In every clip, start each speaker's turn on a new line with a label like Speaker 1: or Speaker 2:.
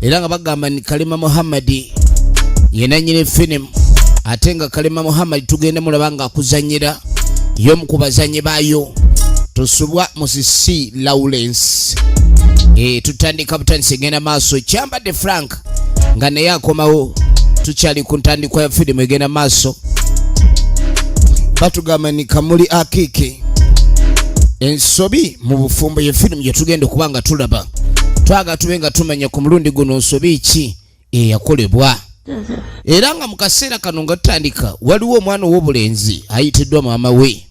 Speaker 1: era nga bagamba ni kalima muhammadi yenanyini filimu ate nga kalima muhammadi tugenda mulaba nga akuzanyira yomu ku bazanyi baayo tusubwa musisi lawrence e, tutandika butandisa egenda maaso kyambadde frank nga naye akomawo tukyali ku ntandikwa ya filimu egenda maaso batugamba ni kamuli akiki ensobi mu bufumbo ye firimu gyetugenda okuba nga tulaba twaga tube nga tumanya ku mulundi guno nsobi ki eyakolebwa era nga mu kaseera kano nga tutandika waliwo omwana ow'obulenzi ayitiddwa maama we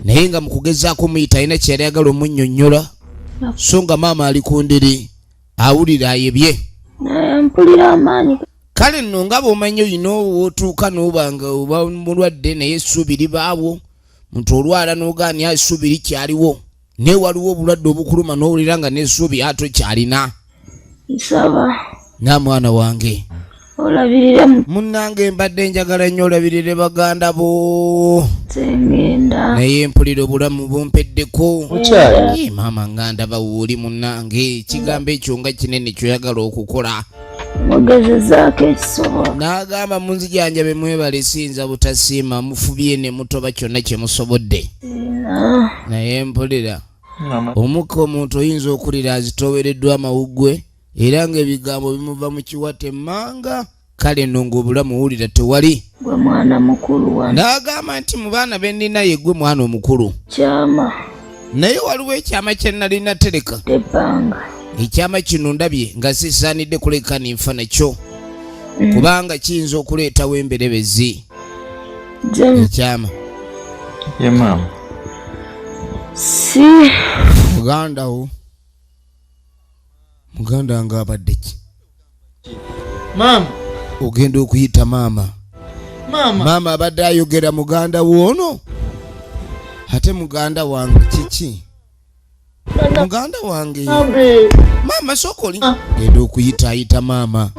Speaker 1: naye nga mu kugezaako omuyita alina kyeyali agala omunyonyola so nga maama ali ku ndiri awulira ayebye
Speaker 2: kale nno nga
Speaker 1: bwomanyi olina owotuuka noba nga oba mulwadde naye essuubi libaawo muntu olwala nogaani essuubi likyaliwo naye waliwo obulwadde obukuluma n'owulira nga n'essuubi ate okyalina nsaba
Speaker 2: na mwana
Speaker 1: wange olabirire
Speaker 2: munnange
Speaker 1: mbadde njagala nnyo olabirire baganda bo
Speaker 2: naye mpulira
Speaker 1: obulamu bumpeddeko maama nganda bawuuli munnange ekigambo ekyo nga kinene kyoyagala okukola mugezezaako
Speaker 2: ekisobola n'agamba munzijanjabe
Speaker 1: mwebale siyinza butasiima mufubye ne mutoba kyonna kye musobodde naye mpulira omukka omuntu oyinza okulira azitoowereddwa amawuggwe era ng'ebigambo bimuva mu kiwata emmanga kale no ng'obulamu wulira tewali gwe mwana
Speaker 2: mukulu wa n'agamba nti mu baana
Speaker 1: be nnina ye gwe mwana omukulu kyama
Speaker 2: naye waliwo
Speaker 1: ekyama kye nnali natereka ebbanga
Speaker 2: ekyama kino
Speaker 1: ndabye nga sisaanidde kuleka ninfa nakyo mm. kubanga kiyinza okuleetawo emberebezi ekyama
Speaker 3: ye maama
Speaker 2: si muganda wo
Speaker 1: muganda nga abadde ki
Speaker 3: maama ogenda
Speaker 1: okuyita maama maama abadde ayogera muganda woono ate muganda wange kiki muganda wange maama sokoli ah. genda okuyita ayita maama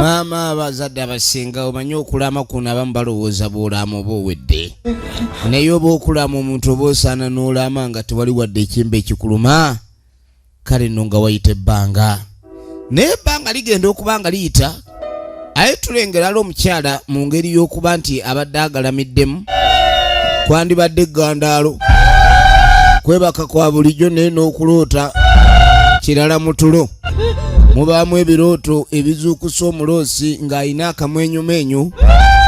Speaker 1: maama abazadde abasinga omanyi okulama kuno abamu balowooza bwolamu oba owedde naye oba okulama omuntu oba osaana n'olaama nga tewali wadde ekimba ekikuluma kale nno nga wayita ebbanga naye ebbanga ligenda okuba nga liyita aye tulengerala omukyala mu ngeri y'okuba nti abadde agalamiddemu kwandibadde eggandaalo kwebaka kwa bulijjo naye n'okuloota kirala mu tulo mubaamu ebirooto ebizuukusa omuloosi ng'alina akamwenyumeenyu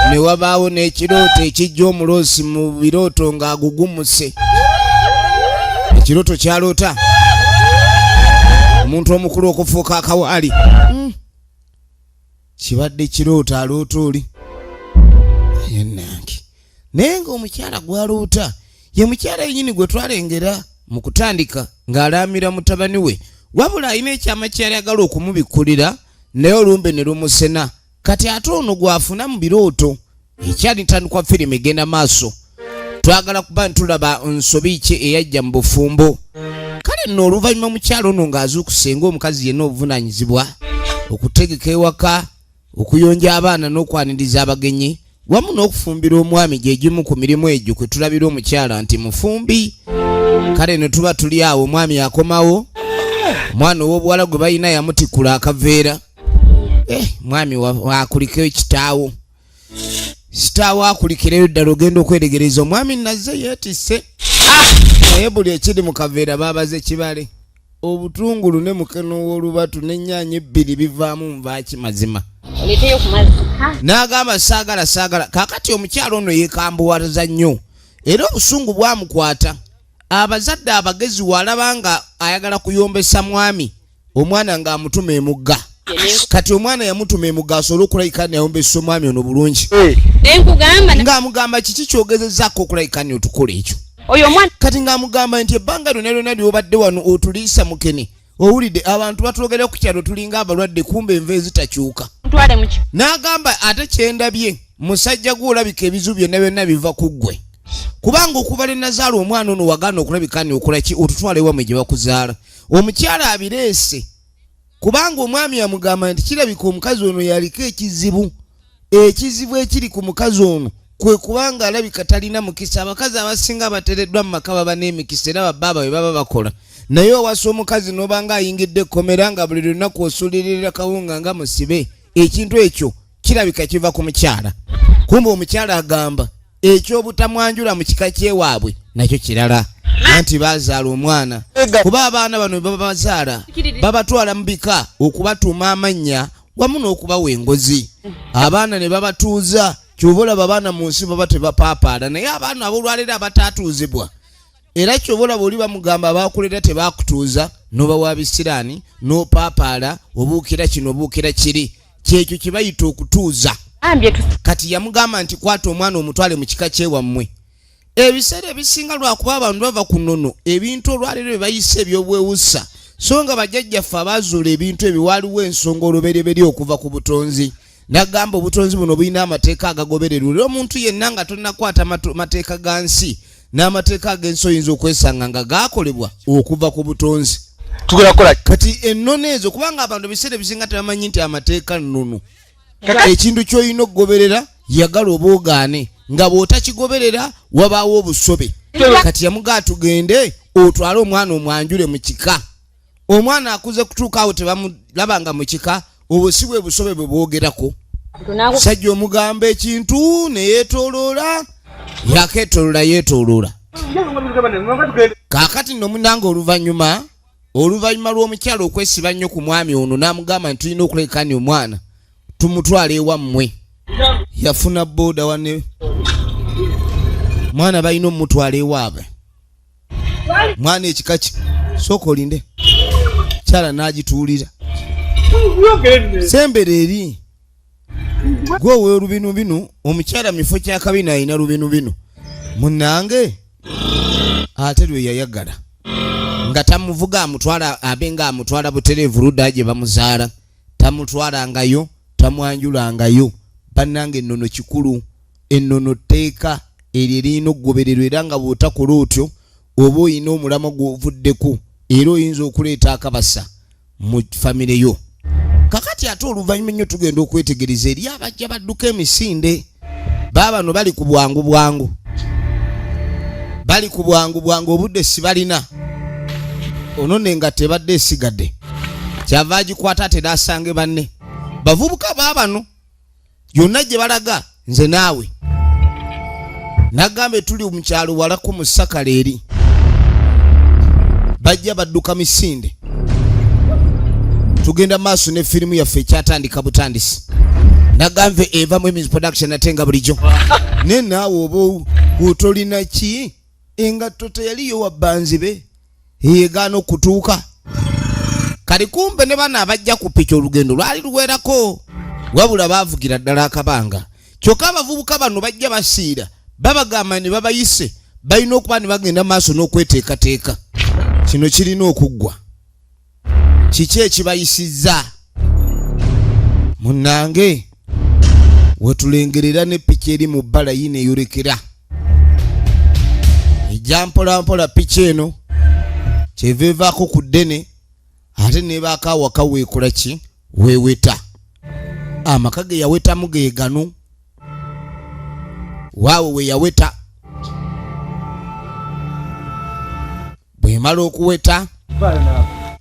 Speaker 1: ne wabaawo n'ekirooto ekijja omuloosi mu birooto ng'agugumuse ekirooto kyaloota omuntu omukulu okufuuka akawaali hmm. kibadde kirooto aloota oli yenange naye ngaomukyala gwaloota ye mukyala yenyini gwe twalengera mu kutandika ng'alaamira mutabani we wabula alina ekyama kyeyali agala okumubikkulira naye olumbe ne lumusena kati ate ono gwafuna mu birooto ekyali ntandikwa firimu egenda maaso twagala kuba ntulaba nsobi ki eyajja mu bufumbo kale nno oluvannyuma mukyalo ono ng'azuukuse ng'omukazi yenna obuvunaanyizibwa okutegeka ewaka okuyonja abaana n'okwaniriza abagenyi wamu n'okufumbira omwami gye gimu ku mirimu egyo kwe tulabira omukyala nti mufumbi kale ne tuba tuli awo omwami akomawo omwana ow'obuwala gwe balina yamutikula akaveera eh, mwami wakuliko ekitaawo sitaawo akulikireyo ddala ogenda okweregereza omwami nazze yeetisse naye buli ekiri mu kaveera baabaze kibale obutungulu ne mukene w'olubatu n'ennyanya ebbiri bivaamu nvaaki mazima n'agamba saagala saagala kaakati omukyalo ono yeekambuwaza nnyo era obusungu bwamukwata abazadde abagezi waalaba nga ayagala kuyombesa mwami omwana nga amutuma emugga kati omwana yamutuma emugga asobole okulayika nayombesa omwami ono bulungi nga amugamba kiki kyogezezako okulayika ni otukola ekyo kati nga amugamba nti ebbanga lyona lyona lyobadde wano otuliisa mukene owulidde abantu batulogera ku kyalo tulinga abalwadde kumba enva ezitakyuka n'agamba ate kyendabye musajja gwe olabika ebizibu byonna byonna biva ku ggwe kubanga okuva lye nazaala omwana ono wagaana okulabika ni okolaki otutwala ewamwe gye bakuzaala omukyala abireese kubanga omwami yamugamba nti kirabika omukazi ono yaliko ekizibu ekizibu ekiri ku mukazi ono kwe kubanga alabika talina mukisa abakazi abasinga abatereddwa mu maka baba n'emikisa era babbaaba bwe baba bakola naye owasa omukazi n'obanga ayingidde ekkomera nga buli lunaku osuliririra kawunga nga musibe ekintu ekyo kirabika kiva ku mukyala kumba omukyala agamba ekyobutamwanjula mu kika kyewaabwe nakyo kirala anti bazaala omwana kuba abaana bano bebabazaala babatwala mu bika okubatuuma amannya wamu n'okubawa engozi abaana ne babatuuza kyoba olaba abaana mu nsi baba tebapaapaala naye abaana abolwaleero abataatuuzibwa era kyoba olaba oli bamugamba abakulera tebakutuuza nobawa bisiraani nopaapaala obuukira kino obuukira kiri kyekyo kyebayita okutuuza kati yamugamba nti kwata omwana omutwale mu kika kyewammwe ebiseera ebisinga lwakuba abantu bava ku nono ebintu olwaleero bebayisa ebyobwewusa so nga bajjajjaffe abaazuula ebintu ebyo waaliwo ensonga olubereberye okuva ku butonzi nagamba obutonzi buno bulina amateeka agagobererwa era omuntu yenna nga tonakwata mateeka ga nsi n'amateeka ag'ensi oyinza okwesanga nga gaakolebwa okuva ku butonzi tugenda kukola kati ennono ezo kubanga abantu ebiseera ebisinga tebamanyi nti amateeka nnono ekintu ky'olina okugoberera yagala oba ogaane nga bw'otakigoberera wabaawo obusobe kati yamugaa tugende otwale omwana omwanjule mu kika omwana akuze kutuuka awo tebamulaba nga mukika obwo si bwe busobe bwe bwogerako sajja omugamba ekintu neyetoloola yaketoloola yetoloola kakati no munanga oluvanyuma oluvanyuma lw'omukyalo okwesiba nnyo ku mwami ono n'amugamba nti tulina okulekani omwana tumutwala ewammwe yafuna boda wane mwana balina omutwala ewaabwe mwana ekika ki sooka olinde kyala n'agituulira sembera eri gwe owe lubinu binu omukyala mifo kyakabina alina lubinu binu munange ate lwe yayagala nga tamuvuga amutwala abe nga amutwala butereevu ludda gye bamuzaala tamutwalangayo tamwanjulangayo bannange ennono kikulu ennono tteeka eryo eririna okugobererwa era nga bw'otakola otyo oba olina omulamwa gw'ovuddeko era oyinza okuleeta akabasa mu famire yo kakati ate oluvannyuma ennyo tugenda okwetegereza eri abajja badduka emisinde baabano bali ku bwangu bwangu bali ku bwangu bwangu obudde sibalina ono ne nga tebadde esigadde kyava agikwata ate nasange banne bavubuka baabano yonna gye balaga nze naawe nagambe tuli mu kyalo walako mu sakala eri bajja badduka misinde tugenda maaso ne firimu yaffe ekyatandika butandisi nagambe eva mu emis production ate nga bulijjo naye naawe oba otolina ki engatto teyaliyo wabbanzibe yegaana okutuuka kali kumbe ne bana abajja ku piki olugendo lwali luwerako wabula baavugira ddala akabanga kyokka abavubuka bano bajja basiira babagamba ne babayise balina okuba ne bagenda maaso n'okweteekateeka kino kirina okuggwa kiki ekibayisizza munnange wetulengerera ne piki eri mu bbala yina eyorekera ejja mpolampola piki eno kyeva evaako ku ddene ate nebaako awaka weekola ki weeweta amaka ge yawetamu ge gano waawo we yaweta bwemala okuweta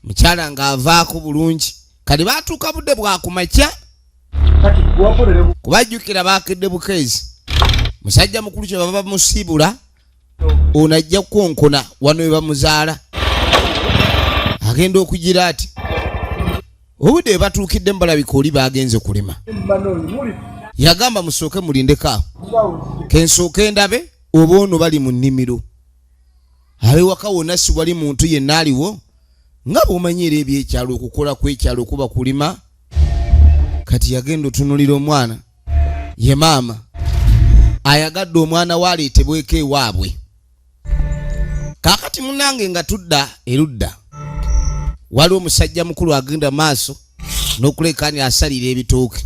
Speaker 1: mukyala ng'avaako bulungi kati baatuuka budde bwakumakya kubajjukira baakedde bukeezi musajja mukulu kye baba bamusiibula ono ajja kukonkona wano we bamuzaala agenda okugira ati obudde we batuukidde mu balabika oli baagenze kulima yagamba musooke mulindeko awo kensooke ndabe oba ono bali mu nnimiro abewaka wonna siwali muntu yenna aliwo nga bwomanyi era ebyekyalo okukola kwekyalo okuba kulima kati yagenda otunulira omwana ye maama ayagadde omwana we aleetebweko ewaabwe kaakati munange nga tudda erudda waliwo omusajja mukulu agenda maaso n'okuleekaani asalira ebitooke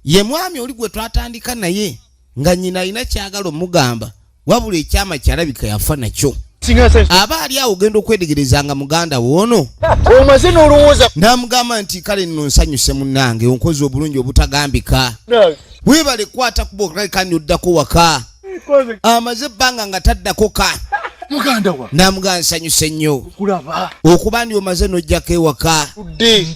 Speaker 1: ye mwami oli gwe twatandika naye nga nyina alina kyagala omugamba wabula ekyama kyalabika yafa nakyo aba ali awo ogenda okwetegereza nga muganda woono omaze nolowooza
Speaker 3: namugamba nti kale
Speaker 1: nno nsanyuse munange onkozi obulungi obutagambika webale kwata kuba okalekani oddako waka amaze ebbanga nga taddako ka
Speaker 3: namuga nsanyuse nnyo
Speaker 1: okuba
Speaker 3: ndi omaze
Speaker 1: nojjako ewaka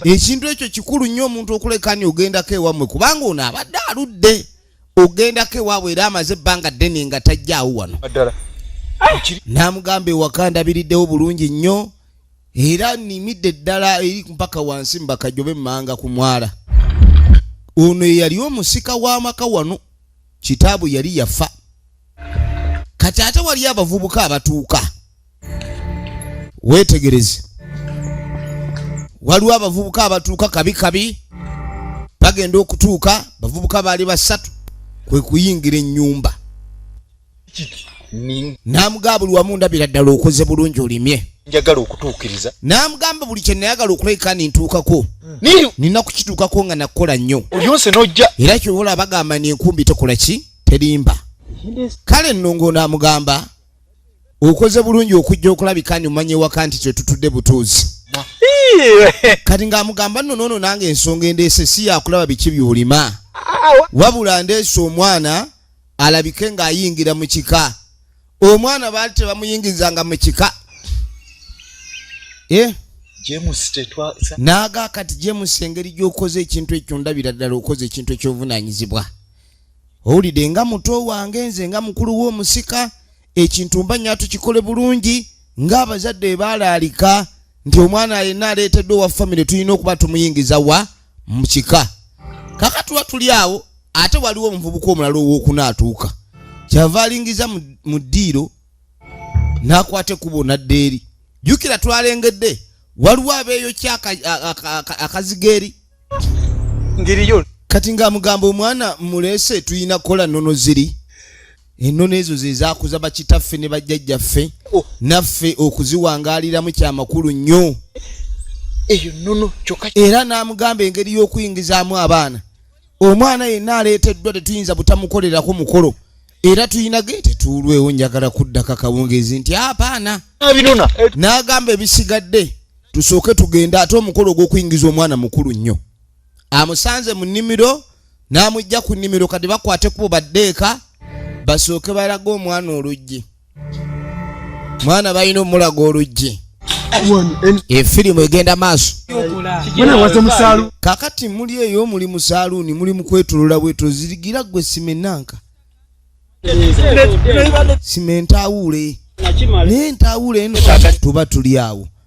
Speaker 1: ekintu ekyo kikulu nnyo omuntu okulekani ogendako ewammwe kubanga ono abadde aludde ogendako ewaabwe era amaze ebbanga ddene nga tajjaawo wano n'amugamba ewaka ndabiriddewo bulungi nnyo era nimidde ddala eri mpaka wansi mbakajobe mmanga ku mwala ono eyali omusika w'amaka wano kitaabwe yali yafa kati ate waliyo abavubuka abatuuka weetegereze waliwo abavubuka abatuuka kabi kabi bagenda okutuuka bavubuka baali basatu kwe kuyingira ennyumba n'amugamba buli wamu ndabira ddala okoze bulungi olimye njagala okutuukiriza
Speaker 3: n'amugamba buli kye
Speaker 1: nayagala okulabika nintuukako hmm. nina kukituukako nga nakukola nnyo olyonse n'ojja era
Speaker 3: kyobola bagamba
Speaker 1: ni enkumbi tekola ki terimba kale nnongo n'amugamba okoze bulungi okujja okulabika ni omanya ewaka nti kyetutudde butuuzi kati ng'amugamba nno noono nange ensonga endeese si yakulaba biki byolima wabula ndeese omwana alabike ng'ayingira mu kika omwana baali tebamuyingizanga mu kika eh? naaga kati james engeri gy'okoze ekintu ekyo ndabira ddala okoze ekintu eky'obuvunaanyizibwa owulidde nga muto wange nze nga mukulu w'omusika ekintu mba nyato kikole bulungi ng'abazadde baalaalika nti omwana yenna aleeteddwa owa famire tulina okuba tumuyingiza wa mu kika kaka tuba tuli awo ate waliwo omuvubuka omulala owokuna atuuka kyava alingiza mu ddiiro n'akwata ekkubo nadda eri jjukira twalengedde waliwo abeeyokya akazigeeri
Speaker 3: ngeri yo kati nga
Speaker 1: mugamba omwana mulese tuyina kola nono ziri enono ezo zezakuza bakitaffe ne bajjajja ffe oh. naffe okuziwangaliramu kyamakulu nnyo eyo
Speaker 3: nono kyoka era namugamba
Speaker 1: engeri y'okuyingizaamu abaana omwana yenna aleeteddwa tetuyinza butamukolerako mukolo era tulina ge tetuulwewo njagala kuddako akawungeezi nti apaana
Speaker 3: n'agamba
Speaker 1: ebisigadde tusooke tugende ate omukolo ogw'okuyingiza omwana mukulu nnyo amusanze mu nnimiro n'amujja ku nnimiro kati bakwate kubo baddeeka basooke balage omwana oluggi mwana balina omulaga oluggi efirimu egenda maaso kakati muli eyo muli mu saaluuni muli mu kwetolola bwetolo zirigira gwe simenanka simentawuule naye ntawuule eno tuba tuli awo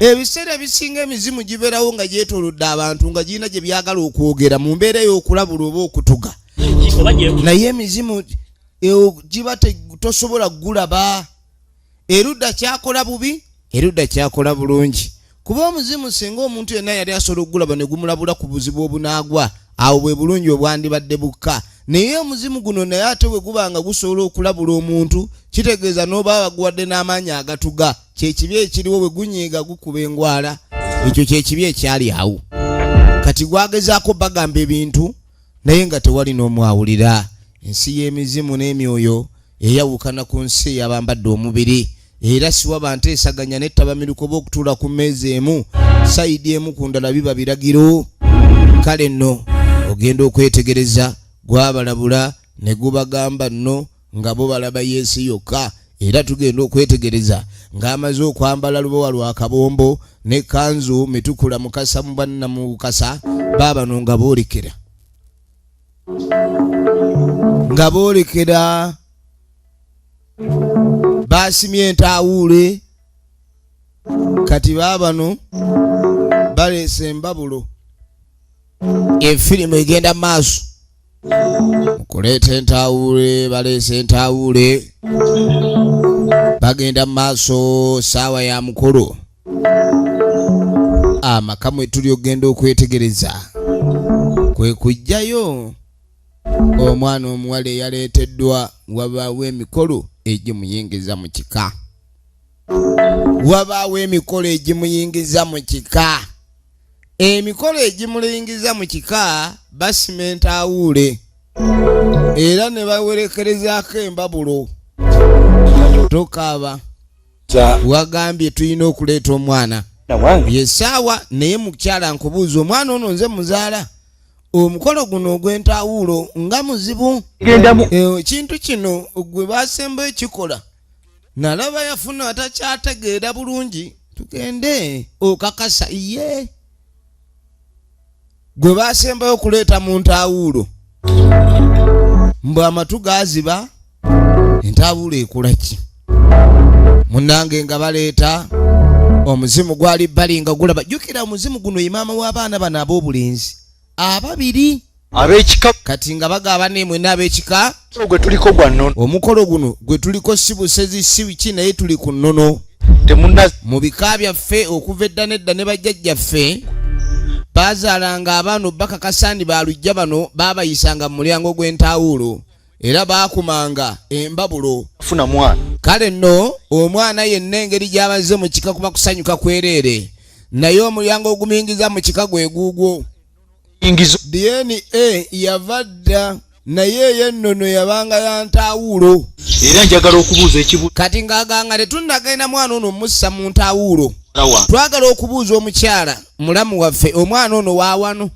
Speaker 1: ebiseera ebisinga emizimu gibeerawo nga gyetolodde abantu nga girina gye byagala okwogera mu mbeera ey'okulabula oba okutuga naye emizimu e, giba tosobola kugulaba erudda kyakola bubi erudda kyakola bulungi kuba omuzimu singa omuntu yenna yali asobola okugulaba ne gumulabula ku buzibu obunaagwa awo bwe bulungi obwandibadde bukka naye omuzimu guno naye ate bwe guba nga gusobola okulabula omuntu kitegeeza n'oba abaguwadde n'amaanyi agatuga kyekibi ekiriwo bwe gunyiiga gukuba engwala ekyo kyekibi ekyali awo kati gwagezaako bagamba ebintu naye nga tewali n'omwawulira ensi y'emizimu n'emyoyo eyawukana ku nsi eyabambadde omubiri era siwaba nteesaganya nettabamiruko oba okutuula ku mmeeza emu sayidi emu ku ndala biba biragiro kale nno ogenda okwetegereza gwabalabula ne gubagamba nno nga bo balaba yesu yokka era tugenda okwetegereza ng'amaze okwambala lubowa lwa kabombo ne kanzu mitukula mukasa mu banna mu bukasa baabano nga boolekera nga boolekera baasimye entaawuule kati baabano baleese embabulo efirimu egenda maaso kuleeta entawuule baleesa entawuule bagenda mu maaso saawa ya mukulu amaka mwe tuli okugenda okwetegereza kwe kujjayo omwana omuwala eyaleeteddwa wabaawo emikolo egimuyingiza mu kika wabaawo emikolo egimuyingiza mu kika emikolo egimulingiza mu kika basimenta awuule era ne bawerekerezaako embabulo tokaaba wagambye tulina okuleeta omwana yesaawa naye mukyala nkubuuza omwana ono nze muzaala omukolo guno ogw'entawuulo nga muzibu ekintu eh, kino gwe basemba ekikola nalaba yafuna atakyategeera bulungi tugende okakasa ye gwe basembayo okuleeta mu ntaawuulo mbu amatu gaziba entaawuulo ekula ki munange nga baleeta omuzimu gwali bali nga gulaba jjukira omuzimu guno ye maama w'abaana bano ab'obulenzi ababiri abekika
Speaker 3: kati nga bagaba
Speaker 1: nemwe nabekika gwe tuliko gwa
Speaker 3: nono omukolo guno gwe
Speaker 1: tuliko si busezi si biki naye tuli ku nono temuna mu bika byaffe okuva edda nedda ne bajjajjaffe baazaalanga abaana obbakakasandi balujja bano baabayisanga mu mulyango gw'entaawuulo era baakumanga embabulo funa mwana
Speaker 3: kale nno
Speaker 1: omwana yenna engeri gy'abazze mu kika kuba kusanyuka kwereere naye omulyango ogumuyingiza mu kika gwe guugwo dna yava dda naye eyo ennono yabanga ya ntaawuulo era njagala
Speaker 3: okubuuza ekibuuzo kati ng'aganga
Speaker 1: tetunnagenda mwana ono omussa mu ntaawuulo twagala okubuuza omukyala mulamu waffe omwana ono waawano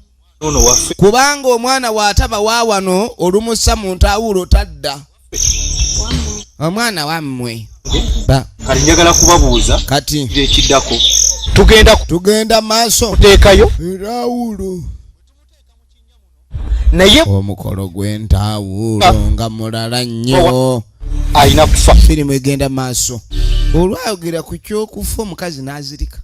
Speaker 1: kubanga omwana waataba waawano olumussa mu ntaawuulo tadda omwana wammwe kati
Speaker 3: njagala kubabuuza kati ekiddako tugenda tugenda maaso
Speaker 1: kuteekayo
Speaker 3: erawulo naye omukolo
Speaker 1: gw'entawuulo ah. nga mulala nnyo alina kufa
Speaker 3: firimu egenda maaso
Speaker 1: olwayogera ku kyokufa omukazi n'azirika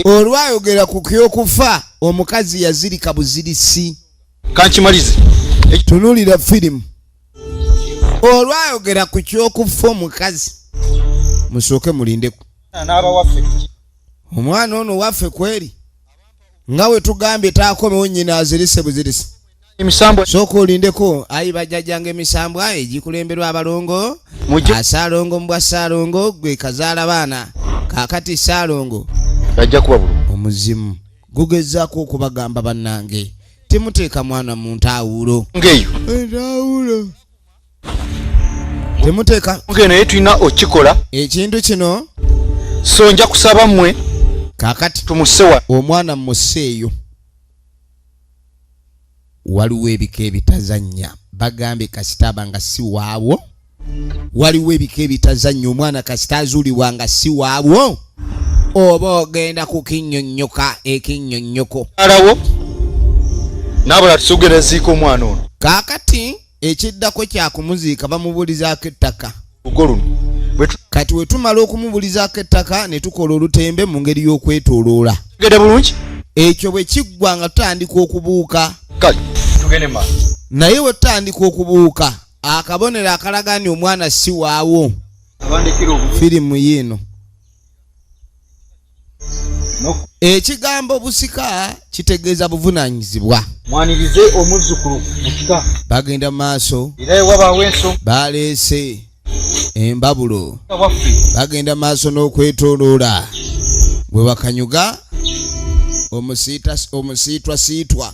Speaker 1: olwayogera ku kyokufa omukazi yazirika buzirisi kankimalize
Speaker 3: tunulira
Speaker 1: firimu olwayogera ku kyokufa omukazi musooke mulindeku omwana ono waffe kweri nga wetugambye taakomewo nyina azirise buzirisi emisambwa
Speaker 3: sooka olindeko
Speaker 1: ayi bajjajjanga emisambwa egikulemberwa abalongo asaalongo mubwa saalongo gwe kazaala baana kakati saalongo ajja kuba bulu
Speaker 3: omuzimu
Speaker 1: gugezaako okubagamba bannange temuteeka mwana mu ntaawulo ngeyo
Speaker 3: entaawulo
Speaker 1: temuteeka ngeyo naye tulina
Speaker 3: okikola ekintu kino
Speaker 1: so nja
Speaker 3: kusaba mmwe kakati
Speaker 1: tumusewa
Speaker 3: omwana mmuseeyo
Speaker 1: waliwo ebika ebitazanya bagambye kasita aba nga si waabwo waliwo ebika ebitazanya omwana kasita azuulibwa nga si waabwo oba ogenda kukinyonyoka ekinyonyoko alawo
Speaker 3: nabula tusugereziika omwana ono kakati
Speaker 1: ekiddako kyakumuziika bamubulizaako ettaka
Speaker 3: kati
Speaker 1: wetumala okumubulizaako ettaka ne tukola olutembe mu ngeri y'okwetoloola
Speaker 3: ekyo bwe
Speaker 1: kiggwa nga tutandika okubuuka
Speaker 3: naye we tutandika
Speaker 1: okubuuka akabonero akalaga ni omwana si waawo firimu yiino ekigambo busika kitegeeza buvunanyizibwa mwanirize
Speaker 3: omuzzukulu busika bagenda mu maaso
Speaker 1: era ewabaawo enso
Speaker 3: baleese
Speaker 1: embabulo
Speaker 3: bagenda maaso
Speaker 1: n'okwetoloola bwe bakanyuga omusiitwasiitwa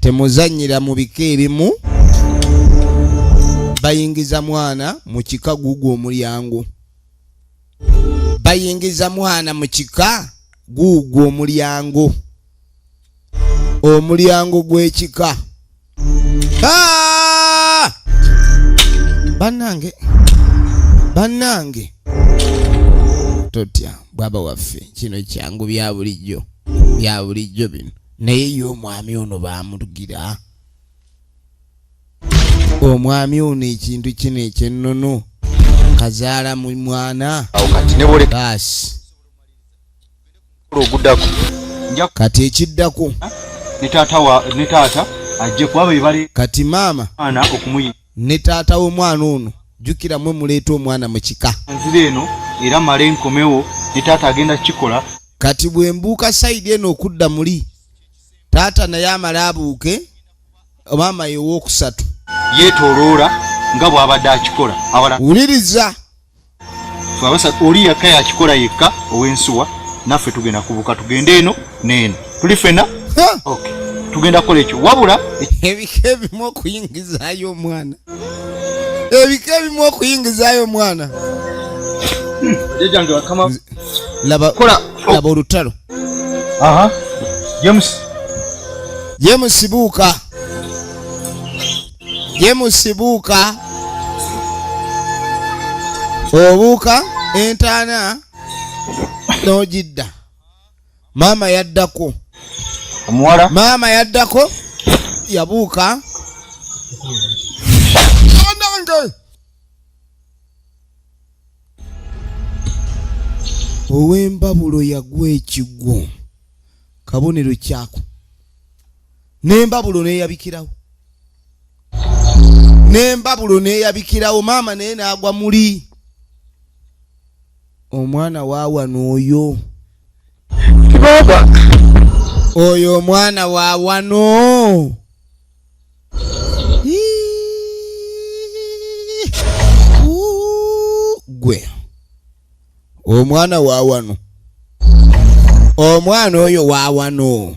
Speaker 1: temuzanyira mu bika ebimu bayingiza mwana mu kika guugwo omulyango bayingiza mwana mu kika guugwo omulyango omulyango gw'ekika Ah! Banange, banange, totya bwaba waffe, kino kyangu bya bulijjo, bya bulijjo bino. Naye ye omwami ono baamutugira, omwami ono ekintu kino ekyennono kazaala mu mwana
Speaker 3: baasi ogudako kati ekiddako
Speaker 1: ne taata
Speaker 3: wa ne taata ajje kuba be bali kati maama ana
Speaker 1: okumuyi
Speaker 3: ne taata
Speaker 1: w'omwana ono jjukira mwe muleeta omwana mu kika nzira eno
Speaker 3: era male nkomewo ne taata agenda kukikola kati bwe mbuuka
Speaker 1: sayidi eno okudda muli taata naye amale abuuke maama yewookusatu yeetooloola
Speaker 3: nga bw'abadde akikola wuliriza twabasa oli yakka yakikola yekka ow'ensuwa naffe tugenda kubuka tugende eno neeno tuli fena okay. tugenda kukola ekyo wabula ebika ebimu
Speaker 1: okuyingizaayo omwana ebika ebimu okuyingizaayo omwana laba olutalo
Speaker 3: james
Speaker 1: james buuka James Buuka obuuka entaana n'ogidda maama yaddako omuwala
Speaker 3: maama yaddako
Speaker 1: yabuuka anange ow'embabulo yagwa ekigwo kabonero kyako nembabulo neyabikirawo nembabulo neyabikirawo maama naye nagwa muli omwana wawana oyo oyo omwana wawano gwe omwana wawano omwana oyo wawano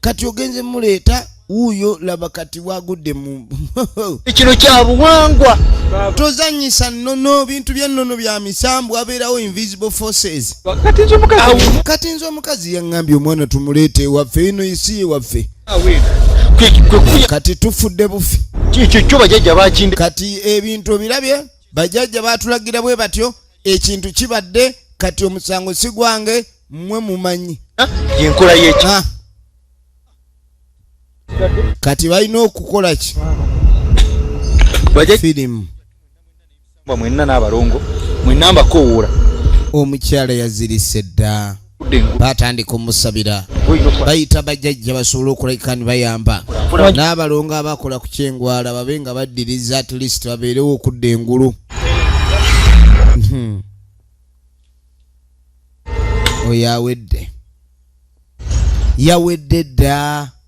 Speaker 1: kati ogenze muleeta wuuyo laba kati wagudde mu kino kya
Speaker 3: buwangwa tozanyisa
Speaker 1: nnono bintu byennono bya misambu abeerawo invisible forces kati nze omukazi yaŋŋambye omwana tumuleete ewaffe ino isi ewaffe kati tufudde bufi
Speaker 3: kati ebintu
Speaker 1: obirabye bajajja batulagira bwe batyo ekintu kibadde kati omusango si gwange mmwe mumanyi yenkola yeki
Speaker 3: ah.
Speaker 1: kati balina okukola ki firimu
Speaker 3: mwenna n'abalongo mwenna mbakowoola omukyala
Speaker 1: yazirise dda batandika omusabira bayita bajajja basobole okulabika ni bayamba n'abalongo abakola ku kyengwala babe nga baddiriza at least babeerewo okudda engulu hmm. oyo awedde yawedde dda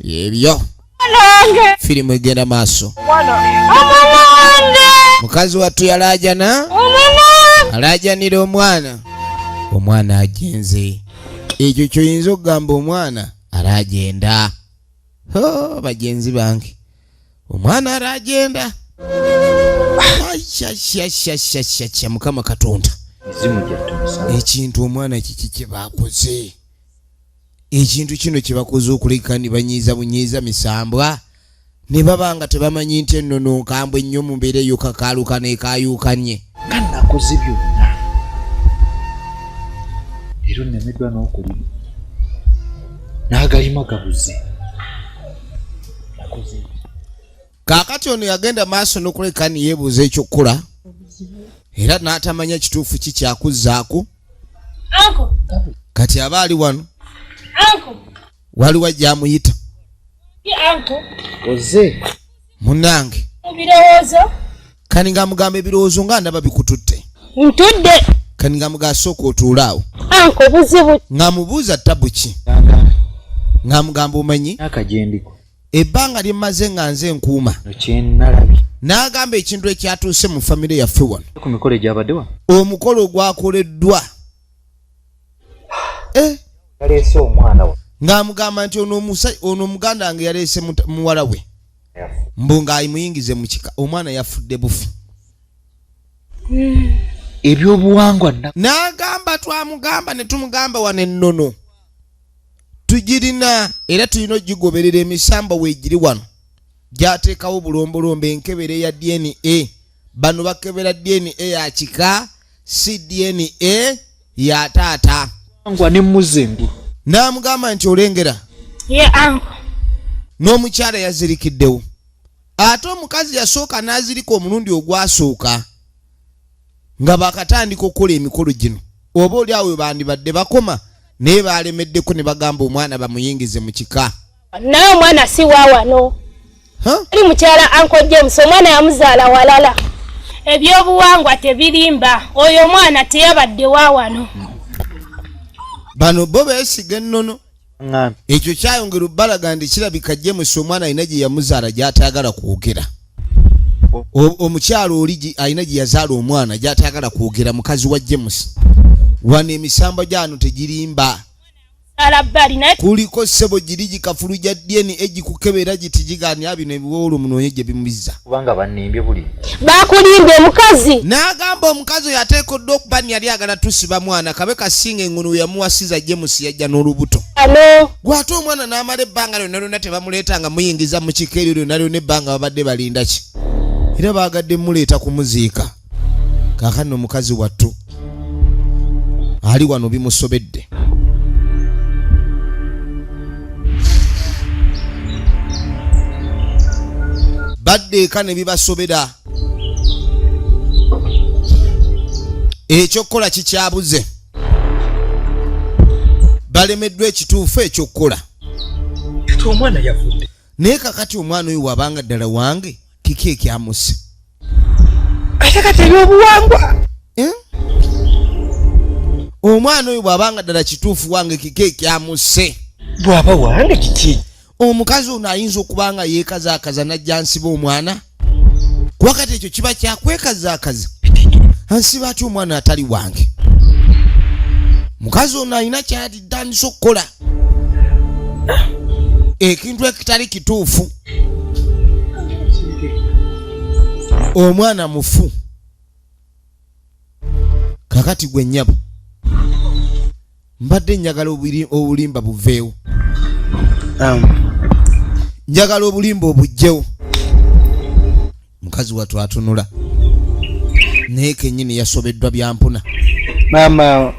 Speaker 1: yebyo firimu egenda maaso mukazi wattu yalaajana alaajanira omwana omwana agenze ekyo kyoyinza okugamba omwana araagenda bagenzi bange omwana araagenda ashashashashashasha mukama katonda ekintu omwana kiki kyebakoze ekintu kino kye bakuzuukulika ne banyiiza bunyiiza misambwa ne baba nga tebamanyi nti ennono nkambwe nnyo mu mbeera eyo kakaaluka neekaayuukanye nga nakoze
Speaker 3: byonna era onnemeddwa n'okulima n'agalima gabuze nakoze kaakati
Speaker 1: ono yagenda maaso n'okuleka ne yeebuuza ekyokkola era n'atamanya kituufu ki kyakuzzaako kati aba ali wano waliwo ajja amuyita
Speaker 3: oze munange
Speaker 1: kani nga mugamba ebirowoozo nga ndaba bikututte ntudde
Speaker 2: kani nga muga
Speaker 1: asooka otuula awo
Speaker 2: nga mubuuza
Speaker 1: tabu ki nga mugamba omanyi
Speaker 3: ebbanga lye
Speaker 1: mmaze nga nze nkuuma
Speaker 3: n'agamba ekintu
Speaker 1: ekyatuuse mu famire yaffe wano omukolo
Speaker 3: ogwakoleddwa eh? ng'amugamba nti
Speaker 1: ono omuganda wange yaleese muwala we mbu ng'ayimuyingize mu kika omwana yafudde bufi hmm.
Speaker 3: ebyobuwangwa n'agamba
Speaker 1: twamugamba ne tumugamba wano ennono tugirina era tulina ogigoberera emisamba weegiri wano gyateekawo bulombolombo enkebera eya dna bano bakebera dna ya kika si dna ya taata angwa ne mmuze
Speaker 3: engulu n'amugamba nti
Speaker 1: olengera ye anko n'omukyala yazirikiddewo ate omukazi yasooka n'azirika omulundi ogwasooka nga bakatandika okukola emikolo gino oba oli awo webandibadde bakoma naye balemeddeko ne bagamba omwana bamuyingize mu kika naye omwana
Speaker 2: si wawano ali mukyala anko james omwana yamuzaala walala ebyobuwangwa tebirimba oyo omwana teyabadde wawano
Speaker 1: bano bo besiga ennono ekyo kyayongera obbalaga nti kirabika james omwana alina gye yamuzaala gy'atayagala kwogera omukyalo oli alina gye yazaala omwana gy'atayagala kwogera mukazi wa james wano emisamba gyano tegirimba kuliko ssebo giri gikafulu gya dna egikukebera giti gigani abino ebiwowolo munoonye gye bimubizza kubanga
Speaker 3: bannimbye buli bakulimbye
Speaker 2: mukazi n'agamba omukazi
Speaker 1: oyo ateekoddwa okuba ni yali agala tusiba mwana kabe kasinga engunu we yamuwasiza james yajja n'olubuto ano gwate omwana n'amala ebbanga lyonna lyonna tebamuleeta nga muyingiza mu kika eryo lyonna lyonna ebbanga babadde balinda ki era baagadde muleeta kumuziika kakano mukazi wattu ali wano bimusobedde badde eka ne bibasobera ekyokukola kikyabuze balemeddwa ekituufu ekyokukola
Speaker 3: omwana yafudde naye kakati
Speaker 1: omwana oyo wabanga ddala wange kiki ekyamusa
Speaker 3: ate kati ebyobuwangwa eh?
Speaker 1: omwana oyo bwabanga ddala kituufu wange kiki ekyamuse bwaba
Speaker 3: wange kiki omukazi ono
Speaker 1: ayinza okuba nga yeekazaakaza najja nsiba omwana kuba kati ekyo kiba kyakwekazaakaza ansiba atya omwana atali wange mukazi ono alina kyalitandisa okukola ekintu ekitali kituufu omwana mufu kakati gwe nyabo mbadde njagala obulimba buveewo um. njagala obulimba obujjewo mukazi watu atunula naye kenyini yasobeddwa byampuna maama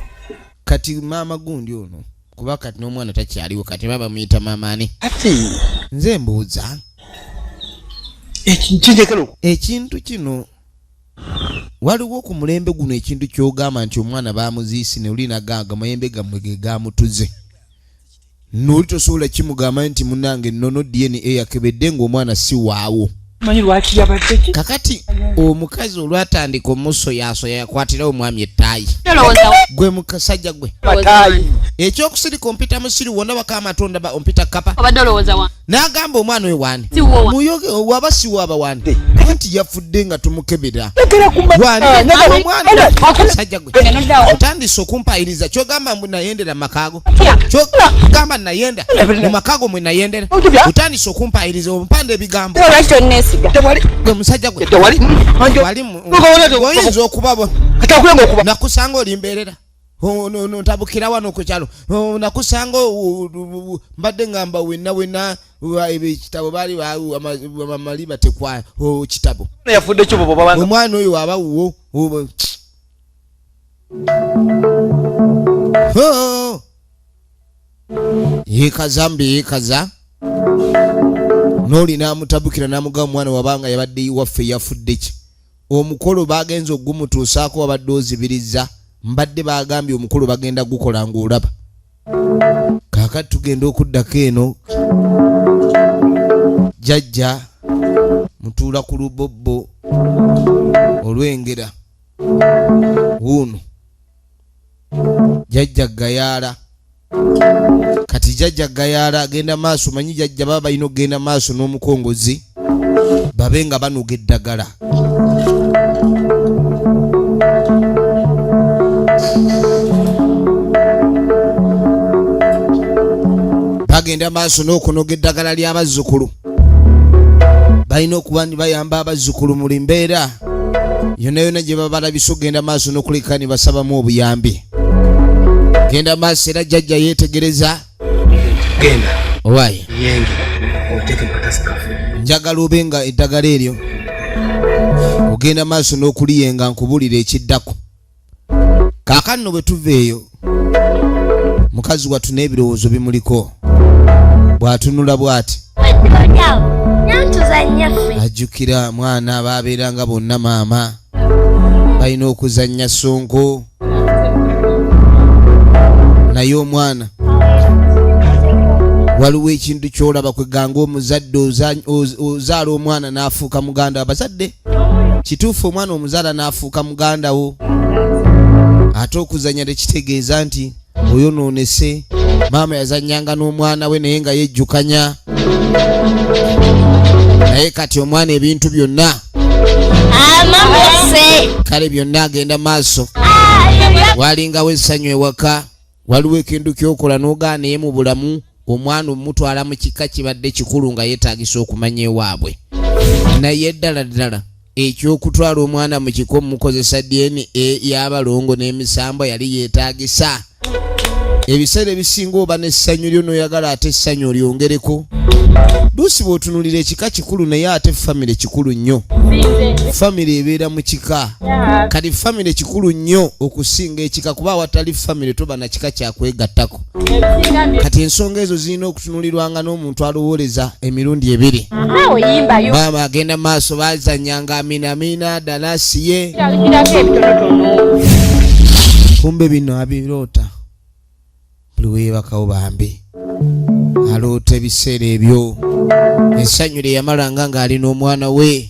Speaker 3: kati
Speaker 1: maama gundi ono kuba kati n'omwana takyaliwo kati baba bamuyita maama ani ati
Speaker 3: nze mbuuza
Speaker 1: ekintu kino waliwo ku mulembe guno ekintu kyogamba nti omwana bamuziisi ne oli nagaaga mayembe gammwe ge gaamutuze nooli tosobola kimugamba nti munange nono dna yakebedde ng'omwana si waawo
Speaker 3: kakati
Speaker 1: omukazi olwatandika omusoyasoya yakwatirawo omwami ettaayi gwe mukasajja gwe ekyokusirika ompita musiru wona baka amatonda ompita kapa n'agamba omwana oyo wani muyoge waba siwaaba wani anti yafudde nga tumukebera waniomwanasajja gwe otandise okumpayiriza kyogamba mbu nayendera makaago kyogamba nayenda mu makaago mwe nayendera otandise okumpayiriza ompanda ebigambo gwe musajja gwe walimu oyinza okubabona nakusanga olimbeerera ntabukira wano ku kyalo nakusanga mbadde ngamba wenna wenna ekitabo baali bamali batekwa kitabo omwana oyo waba wuwo yekaza mbi yekaza nooli namutabukira namuga omwana wabanga yabadde iwaffe yafudde ki omukolo bagenze okugumutuusaako wabadde ozibiriza mbadde bagambye omukolo bagenda gukola ngaolaba kakati tugenda okuddako eno jajja mutuula ku lubobbo olwengera wuuno jajja gayaala kati jajja gayaala agenda maaso manyi jajja baba balina okugenda maaso n'omukongozi babe nga banoga eddagala bagenda maaso n'okunoga eddagala ly'abazzukulu balina okuba ni bayamba abazzukulu mu mbeera yonna yonna gye baba balabisa okugenda maaso n'okuleka ne basabamu obuyambi genda maaso era jjajja yeetegereza
Speaker 4: owaye njagala obe nga
Speaker 1: eddagala eryo ogenda maaso n'okuliyenga nkubulira ekiddako kaakano no bwe tuva eyo mukazi wattu n'ebirowoozo bimuliko bw'atunula bw'ati ajjukira mwana baabeeranga bonna maama balina okuzannya sonko naye omwana waliwo ekintu kyolaba kweganga omuzadde ozaala omwana n'afuuka muganda abazadde kituufu omwana omuzaala n'afuuka muganda wo ate okuzanya tekitegeeza nti oyonoonese maama yazanyanga n'omwana we naye nga yejjukanya naye kati omwana ebintu byonna kale byonna agenda maaso walingawo essanyu ewaka waliwo ekintu kyokola nogaa naye mu bulamu omwana omutwala mu kika kibadde kikulu nga yetagisa okumanya ewaabwe naye ddala ddala ekyokutwala omwana mu kiko mukozesa dna yabalongo n'emisambwa yali yetagisa ebiseera ebisinga oba n'essanyu lyo noyagala ate essanyu olyongereko luusi bwotunulira ekika kikulu naye ate famire kikulu nnyo famire ebeera mu kika kati famire kikulu nnyo okusinga ekika kuba awatali famire toba na kika kyakwegattako kati ensonga ezo zirina okutunulirwanga n'omuntu alowooleza emirundi ebiri maama agenda maaso bazanyanga aminamiina dalasi ye kumbe bino abiroota buli webakawo bambi aloota ebiseera ebyo essanyu lye yamalanga ng'ali n'omwana we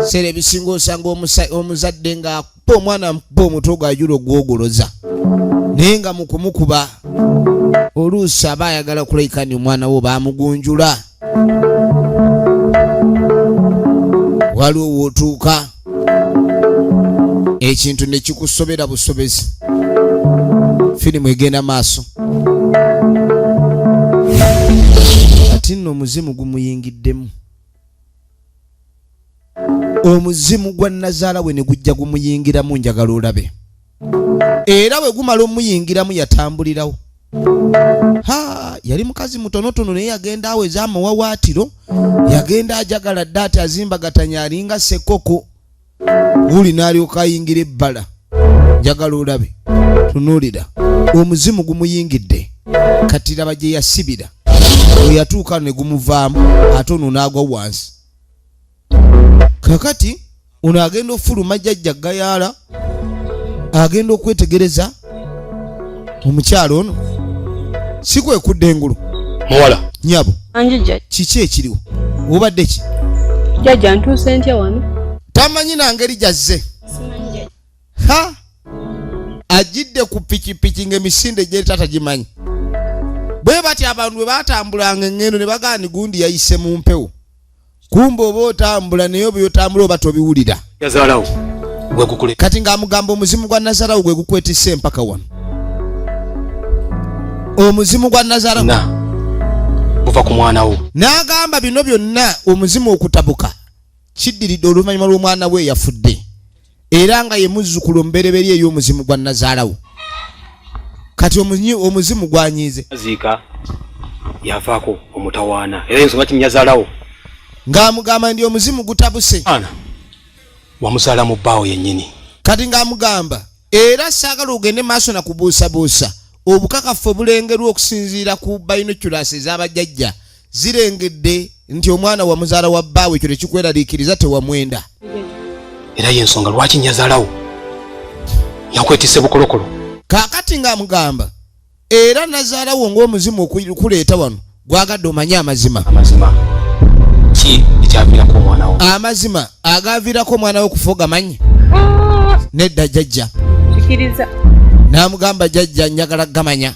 Speaker 1: seera ebisinga osanga omuzadde ng'akuba omwana amukuba omutwe gwajula ogwogoloza naye nga mukumukuba oluusi aba ayagala kulaikanti omwana wo bamugunjula waliwo wootuuka ekintu ne kikusobera busobezi firimu egenda maaso kati nno omuzimu gumuyingiddemu omuzimu gwa nazaala we ne gujja gumuyingiramu njagala olabe era bwe gumala omuyingiramu yatambulirawo ha yali mukazi mutonotono naye yagenda awo ezamawawaatiro yagenda ajagala dda ati azimbagatanya alinga sekoko wuli n'alyoka ayingira ebbala njagala olabe tunuulira omuzimu gumuyingidde kati laba gye yasibira weyatuuka ne gumuvaamu ate ono n'agwa wansi kakati ono agenda okufuluma jajja gayaala agenda okwetegereza omukyalo ono si kwekudda engulu muwala
Speaker 4: nyabo
Speaker 1: kiki
Speaker 5: ekiriwo
Speaker 1: obadde ki jajja
Speaker 5: ntuuse ntya wano tamanyi nangeri
Speaker 1: gyazze ha ajidde ku pikipiki ngaemisinde gyeri tata gimanyi bwe batya abantu bwe batambulanga engendo ne bagaani gundi yayise mu mpewo kumba oba otambula naye oba otambula oba tobiwulira
Speaker 4: kati ng'amugamba omuzimu
Speaker 1: gwa nazarawo gwe gukwetisa empaka wano omuzimu gwa nazarawo
Speaker 4: guva ku mwana wo n'agamba bino
Speaker 1: byonna omuzimu okutabuka kiddiridde oluvannyuma lw'omwana we eyafudde era nga ye muzzukulu omubereberye ey'omuzimu gwa nazaalawo kati omuzimu gwanyiize ziika
Speaker 4: yavaako omutawaana era ensonga kinyazaalawo ng'amugamba
Speaker 1: ndi omuzimu gutabuse ana
Speaker 4: wamuzaala mu bbaawo yennyini kati ng'amugamba
Speaker 1: era saagala ogende maaso na kubuusabuusa obukakafu obulengerwa okusinziira ku bayinoculasi ez'abajjajja zirengedde nti omwana wa muzaala wa bbaawe ekyo tekikweraliikiriza tewamwenda era
Speaker 4: yensonga lwaki nyazaalawo yakwetise bukolokolo kaakati
Speaker 1: ng'amugamba era nazaalawo ng'omuzimu okuleeta wano gwagadde omanye amazima amazima
Speaker 4: ki ekyaviirako omwana wo amazima
Speaker 1: agaaviirako omwana we okufa ogamanyi ah! nedda jajja
Speaker 5: n'amugamba
Speaker 1: jajja njagala gamanya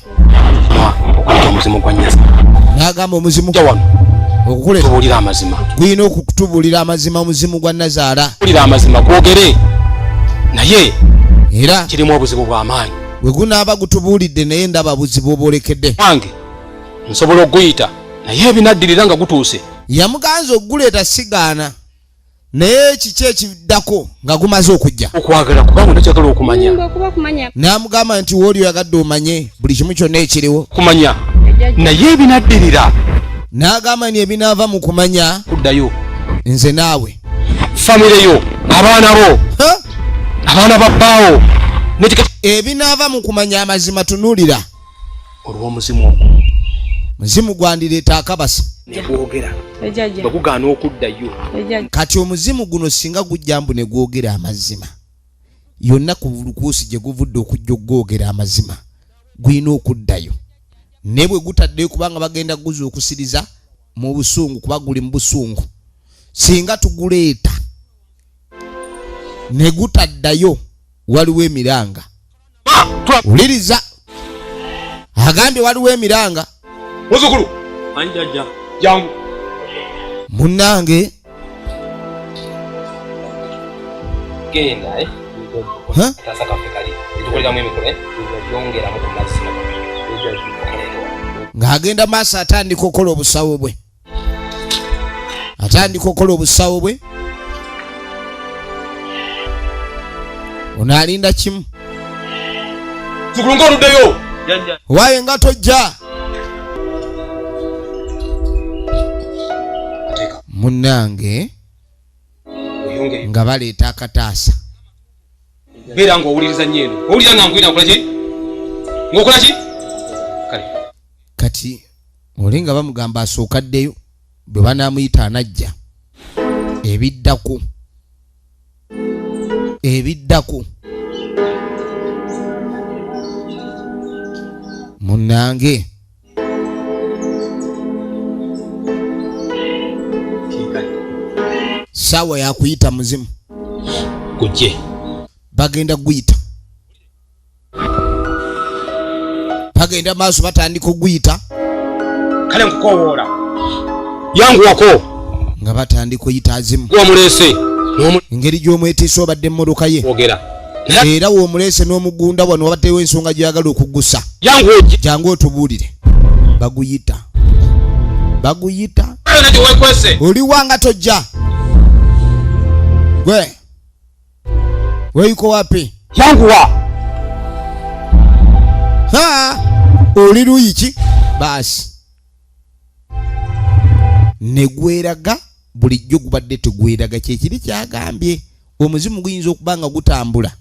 Speaker 4: n'agamba omuzimu
Speaker 1: okukulera
Speaker 4: amazima gulina okutubuulira
Speaker 1: amazima omuzimu gwa nazaala bulira amazima gwogere
Speaker 4: naye era
Speaker 1: kirimu obuzibu
Speaker 4: bw'amaanyi
Speaker 1: bwe gunaaba gutubuulidde
Speaker 4: naye ndaba
Speaker 1: buzibu obwolekedde
Speaker 4: wange nsobola okuguyita naye ebinaddirira nga gutuuse yamuganza okuguleeta
Speaker 1: sigaana naye kiki ekiddako nga gumaze okujja okwagala kubanga nakyagala
Speaker 4: okumanya namugamba nti
Speaker 1: wooli oyagadde omanye buli kimu kyonna ekiriwo kumanya
Speaker 4: naye ebinaddirira nagamba
Speaker 1: ni ebinaava mu kumanya kuddayo
Speaker 4: nze naawe
Speaker 1: famire yo
Speaker 4: abaana bo abaana babbaawo
Speaker 1: ebinaava mu kumanya amazima tunuulira olw'omuzimu
Speaker 4: ogwo muzimu
Speaker 1: gwandireeta akabasa negwogera
Speaker 4: bwegugaana okuddayo kati
Speaker 1: omuzimu guno singa gujja mbu negwogera amazima yonna ku lukuusi gye guvudde okujja okugwogera amazima gulina okuddayo naye bwe gutaddeyo kubanga bagenda guza okusiriza mu busungu kuba guli mu busungu singa tuguleeta ne gutaddayo waliwo emiranga wuliriza agambye waliwo emiranga muzukulu
Speaker 4: anjaja jangu
Speaker 1: munange
Speaker 4: genda eh?
Speaker 1: ng'agenda maaso atandika okukola obusawo bwe atandika okukola obusawo bwe onaalinda kimu
Speaker 4: waye nga
Speaker 1: tojja munange nga baleeta akataasa
Speaker 4: beera nga owuliriza nyo eno owulira nga nkwina nkolaki ngaokolaki kati
Speaker 1: oli nga bamugamba asooka ddeyo bwe banaamuyita anajja ebiddako ebiddako munnange saawa yakuyita muzimu kuje bagenda kuyita bagenda maaso batandika okuguyita kale
Speaker 4: nkukowoola yanguwako nga
Speaker 1: batandika oyita azimu wamuleese
Speaker 4: engeri
Speaker 1: gy'omwetiisa obadde emmotoka ye ogera
Speaker 4: era w'omuleese
Speaker 1: n'omugunda wano wabaddewo ensonga gyagala okugusa jangu otubuulire baguyita baguyita oliwanga tojja gwe Wewe yuko wapi? Yangu wa. Ha! Uliru ichi. Basi. Negweraga bulijjo gubadde tegweraga kyekiri kyagambye omuzimu guyinza okuba nga gutambula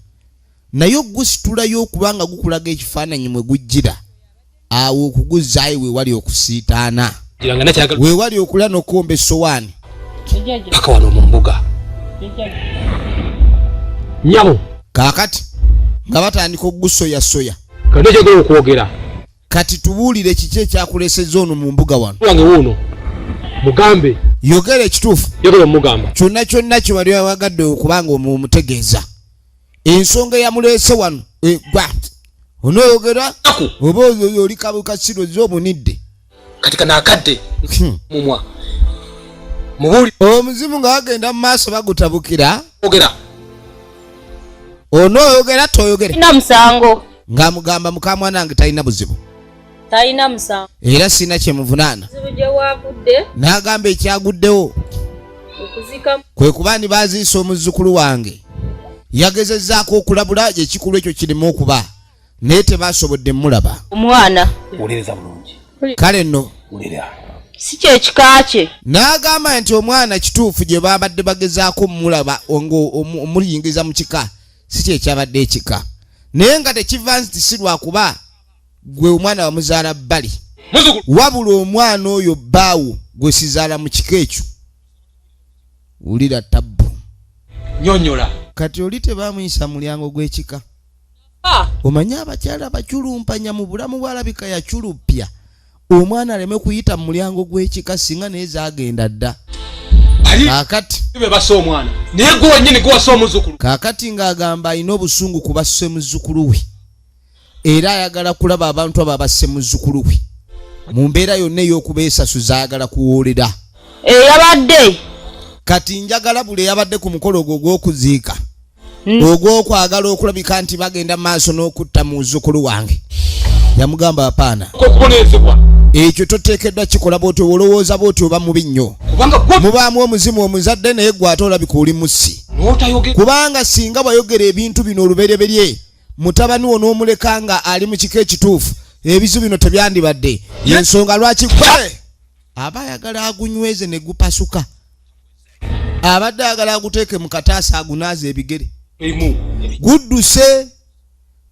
Speaker 1: naye ogusitulayo okuba nga gukulaga ekifaananyi mwe gujjira awo okuguzzaayo wewali okusiitaana wewali okula nokuwomba essowaani paka
Speaker 4: wano mu mbuga nyabo kaakati
Speaker 1: nga batandika okugusoyasoya kati ekyogera
Speaker 4: okwogera kati
Speaker 1: tubuulire kiki ekyakuleseza ono mu mbuga wano wange wuuno
Speaker 4: mugambe yogera
Speaker 1: ekituufu yogera omugamba kyonna
Speaker 4: kyonna kye wali
Speaker 1: wawagadde okubanga omutegeeza ensonga eyamuleese wano egwa onoyogera oba oyo oli kabuka siro ze omunidde kati kana
Speaker 4: akadde hmm. mumwa mubuli omuzimu nga
Speaker 1: wagenda mu maaso bagutabukira ogera onoyogera toyogere na musango
Speaker 2: nga mugamba
Speaker 1: mukamwana nge talina buzibu talina
Speaker 2: musango era sirina
Speaker 1: kyemuvunaana
Speaker 2: n'agamba ekyaguddewo kwe kuba ndi
Speaker 1: baziisa omuzzukulu wange yagezezzaako okulabula ekikulu ekyo kirimu okuba naye tebasobodde mulaba omwana
Speaker 2: wuliriza bulungi
Speaker 4: kale nno
Speaker 1: wulira
Speaker 4: si kyekika
Speaker 2: kye n'agamba nti
Speaker 1: omwana kituufu gye babadde bagezaako omulaba omuyingiza mu kika si kyekyabadde ekika naye nga tekiva nti si lwakuba gwe omwana wamuzaala bbali wabula omwana oyo bbaawo gwe sizaala mu kika ekyo wulira tabbu nyonyola
Speaker 4: kati oli
Speaker 1: tebamuyisa mulyango gw'ekika ah. omanyi abakyala baculumpanya mu bulamu bwalabika yaculuppya omwana aleme kuyita mu mulyango gw'ekika singa naye zagenda dda
Speaker 4: kakati ng'agamba
Speaker 1: alina obusungu ku basse muzzukulu we era ayagala kulaba abantu abo abasse muzzukulu we mu mbeera yonna ey'okubeesasuza ayagala kuwoolera eyabadde
Speaker 2: eh, kati
Speaker 1: njagala buli eyabadde ku mukolo ogwo ogw'okuziika hmm. ogw'okwagala okulabika nti bagenda maaso n'okutta mu muzzukulu wange yamugamba apaana ekyo toteekeddwa kikola bwoti olowooza bwoti oba mubi nnyo mubaamu omuzimu omuzadde naye gwate olabika oli mussi kubanga singa wayogera ebintu bino olubereberye mutabani wo n'omuleka nga ali mu kiko ekituufu ebizu bino tebyandibadde yensonga lwaki gwe aba ayagala agunyweze ne gupasuka abadde ayagala aguteeke mu kataasa agunaaza ebigere gudduse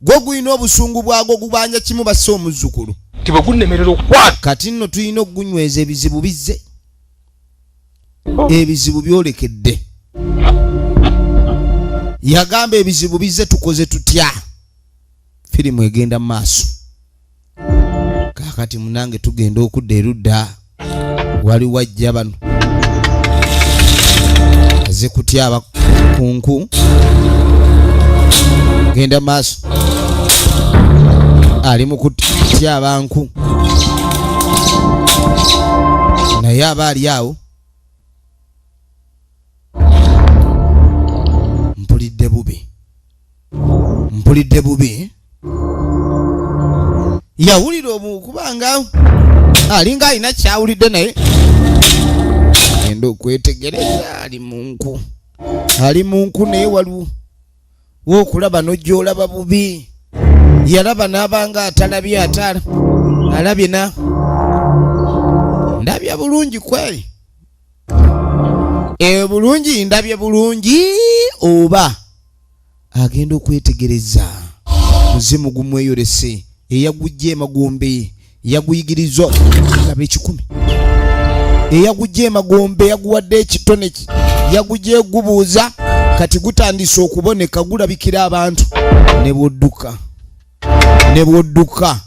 Speaker 1: gwo gulina obusungu bwagwo gubanja kimu basse omuzzukulu kati nno tulina okugunyweza ebizibu bizze ebizibu byolekedde yagamba ebizibu bizze tukoze tutya firimu egenda mu maaso kakati munange tugenda okudda erudda wali wajja bano aze kutyaba kunku genda maaso ali mu kutya abantu naye aba ali awo mpulidde bubi mpulidde bubi yawulira obukubanga alinga alina kyawulidde naye agenda okwetegereza ali munku ali munku naye waliwo wokulaba nojolaba bubi yalaba nabanga atalabye atala alabye na ndabya bulungi kweli e bulungi ndabye bulungi oba agenda okwetegereza muzimu gumweyolese eyagujja emagombe yaguyigiriza laba ekikumi eyagujja emagombe yaguwadde ekitone yagujja egubuuza kati gutandise okuboneka gulabikira abantu ne bwodduka ne bwodduka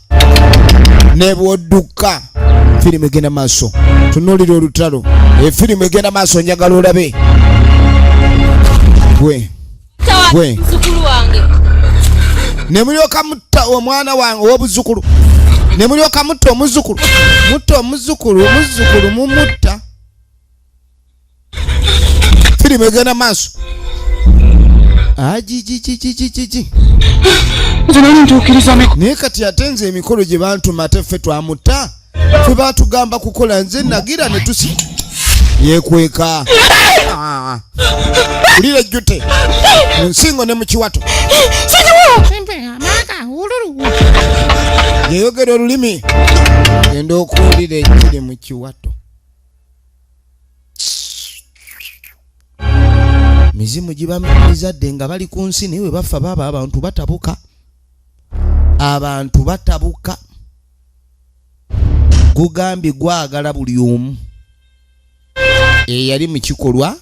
Speaker 1: ne bwodduka firimu egenda maaso tunuulira olutalo efirimu egenda maaso njagala olabe gwe gwe ne mulyoka mutta omwana wange ow'obuzzukulu ne mulyoka mutta omuzzukulu mutta omuzzukulu omuzzukulu mumutta firimu egenda maaso ajijijijijiji naye kati ate nze emikolo gye bantuma ate ffe twamutta fe batugamba kukola nze nagira netusi yekweka ah. ulira ejjute munsingo ne mukiwato yeyogera olulimi genda okuwulira ekiri mu kiwato mizimu gibamizadde nga bali ku nsi naye we bafa baaba abantu batabuka abantu batabuka gugambye gwagala buli omu eyali mu kikolwa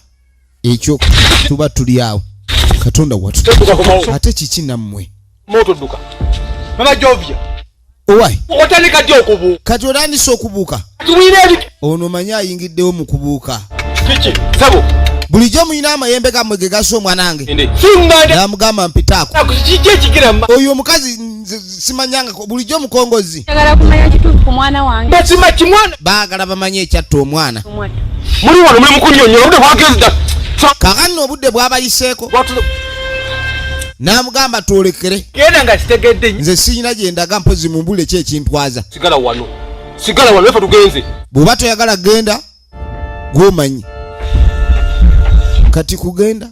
Speaker 1: ekyo tuba tuli awo katonda watu ate kiki nammwe kati otandise okubuuka ono omanyi ayingiddewo mu kubuuka bulijjo mulina amayembe gamwe ge gasa omwanange namugamba mpitaako oyo omukazi simanyanga bulijjo omukongozi baagala bamanye ekyatta omwana muli wano muli mukunyonyola obudde bwagenda kakanno obudde bwabayiseeko n'amugamba twolekere genda nga kitegedde nze siyina gye ndaga mpozi mu mbulire ki ekintwaza sigala wano sigala wano efe tugenze bw'oba toyagala genda gwomanyi kati kugenda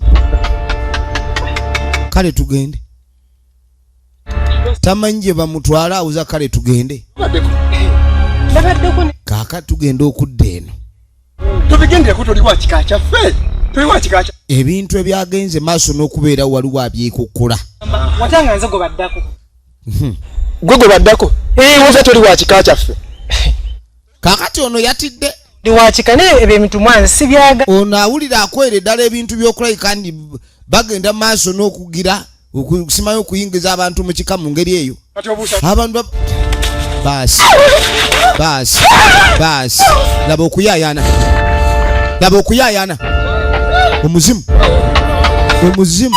Speaker 1: kale tugende tamanyi gye bamutwala awuza kale tugende kaaka tugenda okudda eno ebintu ebyagenze maaso n'okubeera waliwo abyekukkula gwe gwe baddako oza toli wa kika kyaffe kakati ono yatidde ndiwakika naye ebyo
Speaker 6: ebintu mwana sibyaga ono awulira akwere
Speaker 1: ddala ebintu byokulabika nti bagenda mu maaso n'okugira okusimayo okuyingiza abantu mu kika mu ngeri eyo abantu baasi baasi baasi laba okuyayana laba okuyayana omuzimu omuzimu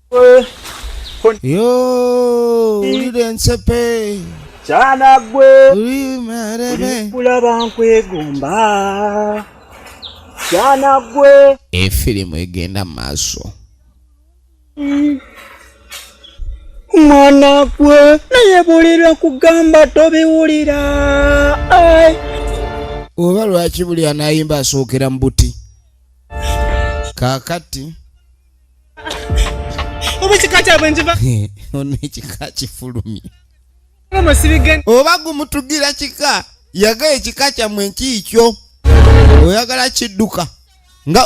Speaker 1: Yo, ulira ensepe kyana
Speaker 7: gwe
Speaker 1: kulaba
Speaker 7: nkwegomba kyana gwe efirimu egenda
Speaker 1: mu maaso
Speaker 7: mwana gwe naye buli lwakugamba tobiwulira
Speaker 1: oba lwaki buli anayimba asookera mu buti kakati
Speaker 6: oba ekika kyabwe nkiva ono ekika
Speaker 1: kifulumye
Speaker 6: oba
Speaker 1: gumutugira kika yaga ekika kyamwe nkiikyo oyagala kidduka nga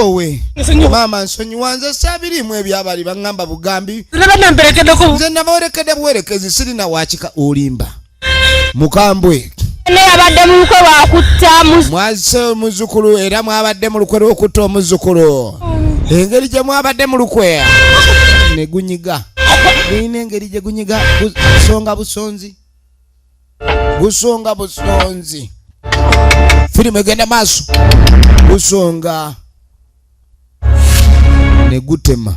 Speaker 1: owe maama nsonyiwa nze sabirimu ebyabali baŋŋamba bugambi nze nabawerekedde buwerekezi sirina wakika olimba mukambwe neyabadde
Speaker 2: mu lukwe lwakutta mwazise
Speaker 1: omuzukulu era mwabadde mu lukwe lwokutta omuzukulu engeri gye mwabadde mu lukwe ne gunyiga gulina engeri gye gunyiga busonga busonzi busonga busonzi firimu egenda maaso busonga ne gutema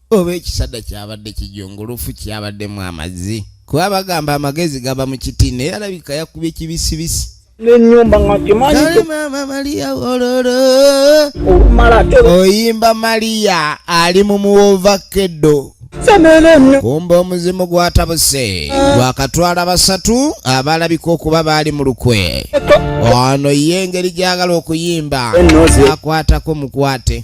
Speaker 1: oba ekisada kyabadde kijongolofu kyabaddemu amazzi kuba bagamba amagezi gaba mu kiti naye alabika yakubye kibisibisi nenyumba nga
Speaker 7: kimanyimama maria
Speaker 1: ololo olumala
Speaker 7: te oyimba
Speaker 1: maria ali mu muwova keddo
Speaker 7: kumba omuzimu
Speaker 1: gwatabuse ah. gwakatwala basatu abalabika okuba baali mu lukwe ono ye engeri gyagala okuyimba akwatako mukwate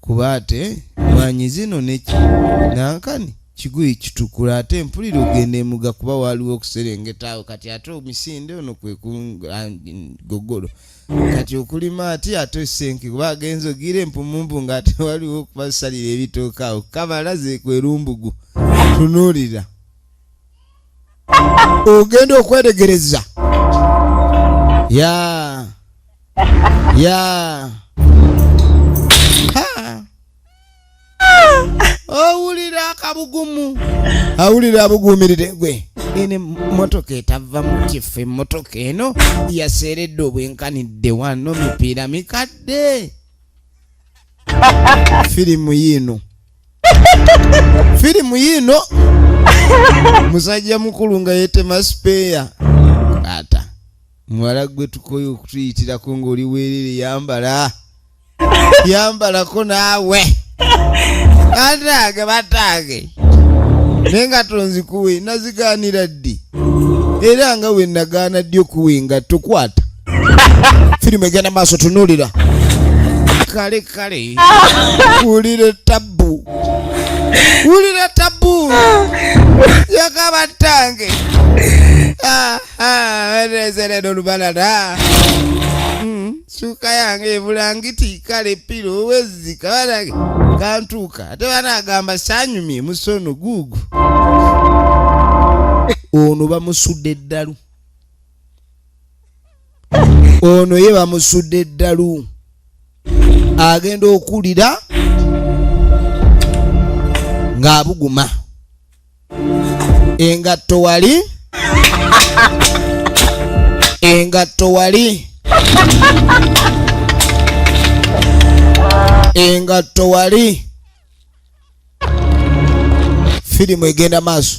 Speaker 1: kuba ate mwanyi zino neki nankani kiguyi kitukula ate mpulira ogenda emuga kuba waaliwo okuserengeta awo kati ate omisinde ono kwekugogolo kati okulima ati ate esenke kuba agenza ogira empumumpu nga ate waliwo okubasalira ebitooka awo kabala zekwerumbugu tunuulira ogenda okwetegereza ya ya owulira akabugumu awulira abuguumirire gwe ene motoka etava mu kifo emotoka eno yaseeredde obwenkanidde wano mipiira mikadde firimu yiino firimu yiino musajja mukulu nga yetema sipeeya ata muwala gwe tukoyo okutuyitirako ng'oli weerere yambala yambalako naawe bataage bataage naye nga tonzikuwe nazigaanira ddi era nga we nagaana ddi okuwa engatto kwata firimu egenda maaso tunulira kale kale wulire tabbu wulire tabbu yakaba tange ah, ah, erezeredo lubalala hmm, suka yange ebulangiti kale piro wezika banange kantuuka ate banagamba sanyumye musono guugu ono bamusudde eddalu ono ye bamusudde eddalu agenda okuwulira ng'abuguma engatto wali engatto wali engatto wali firimu egenda maaso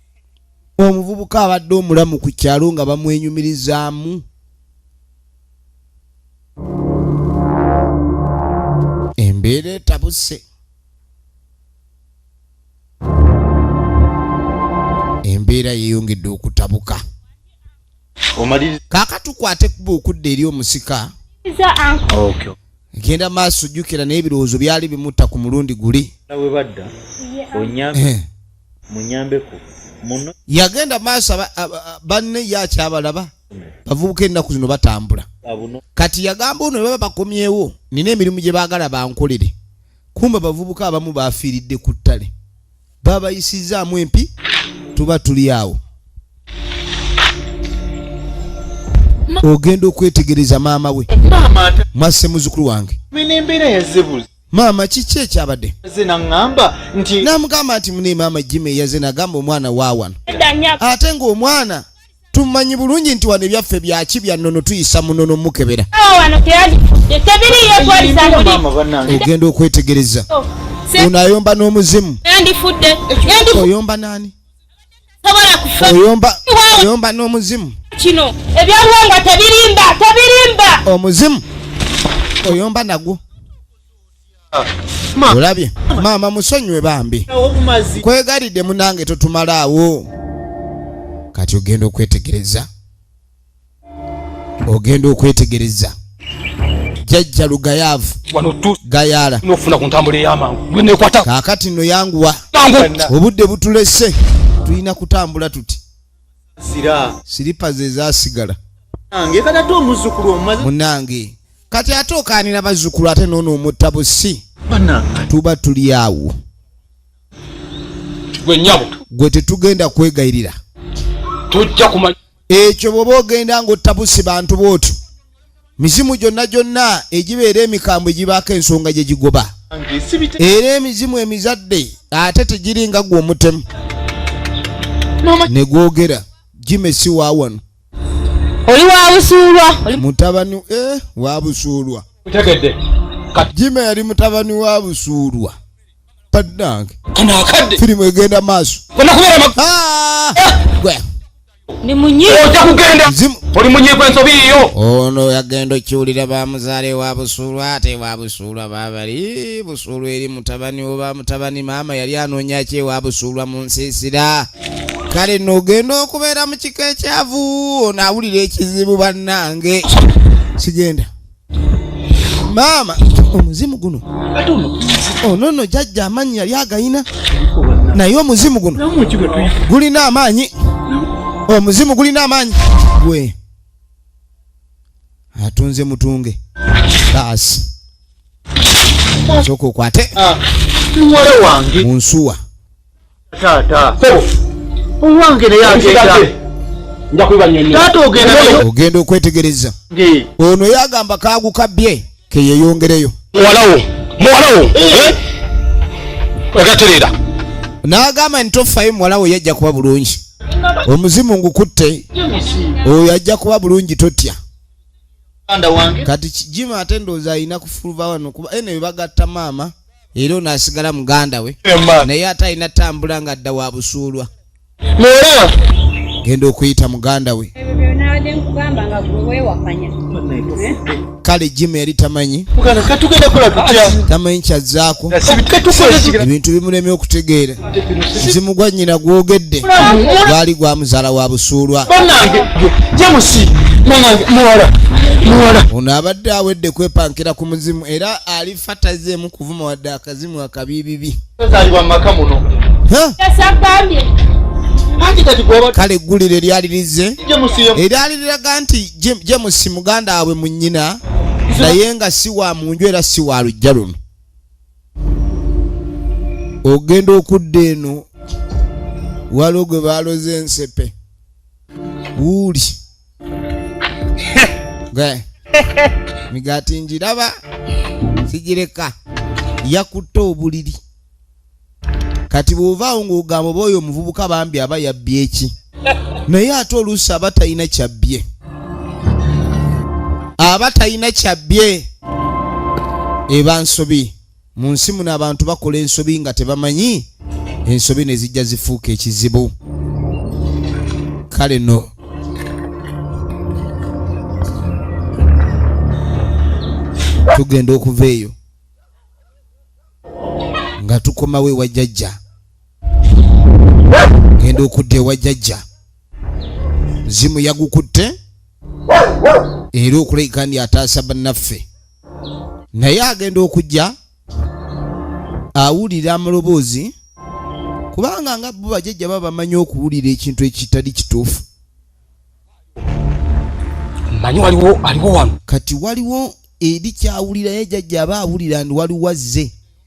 Speaker 1: omuvubuka abadde omulamu ku kyalo nga bamwenyumirizaamu embeera etabuse embeera yeeyongedde okutabuka kaaka tukwate kuba okudda eri omusika genda maaso jjukira naye ebirowoozo byali bimutta ku mulundi guli munyambeko muno yagenda maaso banne ye akyabalaba bavubuka ennaku zino batambula kati yagamba ono baba bakomyewo nina emirimu gye baagala bankolere kumba bavubuka abamu bafiiridde ku ttale babayisizzaamu empi tuba tuli awo ogenda okwetegereza maama we mwasse muzukulu wange maama kiki ekyabadde naŋŋamba nti namugamba nti mune maama jima eyaze nagamba omwana waawano ate ng'omwana tumanyi bulungi nti wano ebyaffe byaki byannono tuyisa munono mukebera ogenda okwetegereza oh, ono ayomba n'omuzimu oyomba naani oyomba n'omuzimu kino
Speaker 2: ebyabuwangwa tebirimba tebirimba omuzimu
Speaker 1: oyomba nagwo olabye maama musonyiwe bambi kwegalidde munange totumalaawo kati ogenda okwetegereza ogenda okwetegereza jajja lugayaavu gayaala nofuna ku ntambula
Speaker 4: eyamangu gwenekwata kakati no yanguwa
Speaker 1: obudde butulese tulina kutambula tuti siripa ze zasigala munange kati ate okaanira bazzukulu ate noono omutta busi tuba tuli awo gwe tetugenda kwegayirira
Speaker 4: ekyo bwoba
Speaker 1: ogenda ngaottabusi bantu bwotyo mizimu gyonna gyonna egibeera emikambwe gibaako ensonga gye gigoba era emizimu emizadde ate tegiri nga gwe omutemu ne gwogera jime si wa wano oli
Speaker 2: wabusuulwa mutabani
Speaker 1: eh, wabusuulwa
Speaker 4: jime
Speaker 1: yali mutabani wa busuulwa bannange kano akadde
Speaker 4: firimu egenda maaso
Speaker 1: onakubeera mag-
Speaker 4: Ah! Eh!
Speaker 1: Gwe. Ni
Speaker 2: munyi. ojja kugenda Zimu.
Speaker 4: oli munyiiko ensobi yiyo ono yagenda
Speaker 1: okiwulira bamuzaale wa busuulwa ate wa busuulwa babali busuulwa eri mutabani oba mutabani maama yali anoonya ki ewa busuulwa mu nsiisira kale nogenda okubeera mu kika ekyavu ono awulira ekizibu bannange sigenda maama omuzimu guno ono oh, no jajja amaanyi yali agayina naye omuzimu guno gulina amaanyi omuzimu gulina amaanyi gwe atunze mutunge baasi soka okwate ah,
Speaker 3: munsuwa Taata. Sebo. Owange naye agenda. Nja kuiba
Speaker 4: nyenye. Taata ogenda naye.
Speaker 3: Ogenda okwetegereza.
Speaker 1: Nge. Ono yagamba kaagu kabye ke yeyongereyo. Mwalawo.
Speaker 4: Mwalawo. Eh. eh? Ogaterera. Nagamba
Speaker 1: ntofayo mwalawo yajja kuba bulungi. Omuzimu ngukutte. Oyo ajja kuba bulungi totya. Kati kijima atendo za ina kufuluva wano kuba ene bagatta mama. era ono asigala muganda we naye ate alina tambula nga adda wa busuulwa genda okuyita muganda we kale jima yali tamanyi tamanyi kyazzaako ebintu bimulemye okutegeera muzimu gwa nnyina gwogedde gwali gwa muzaala wa busuulwa ono abadde awedde kwepankira ku muzimu era ali fa tazeemu kuvuma wadde akazimu akabiibibi tazaalibwa mu maka muno yasagambye kale eggulire lyali lizze eryali liraga nti jemusi muganda waabwe mu nnyina naye nga si wa mu nju era si wa lujja luno ogenda okudda eno waliwo gwe baloze ensepe wuuli gwe migaati njiraba sigireka yakutte obuliri kati bw'ovaawo ng'ogamba oba oyo omuvubuka bambi aba yabbye eki naye ate oluusi aba talina kyabbye aba talina kyabbye eba nsobi mu nsi muno abantu bakola ensobi nga tebamanyi ensobi ne zijja zifuuka ekizibu kale no tugenda okuva eyo nga tukomawo ewa jajja genda okudda ewa jajja zimu yagukutte era okuleka ndi ataasa bannaffe naye agenda okujja awulira amaloboozi kubanga nga bo bajajja baba bamanyi okuwulira ekintu ekitali kituufu
Speaker 4: manyi waliwo aliwo wano kati waliwo
Speaker 1: eri kyawulira ye jajja aba awulira ndi waliwo azze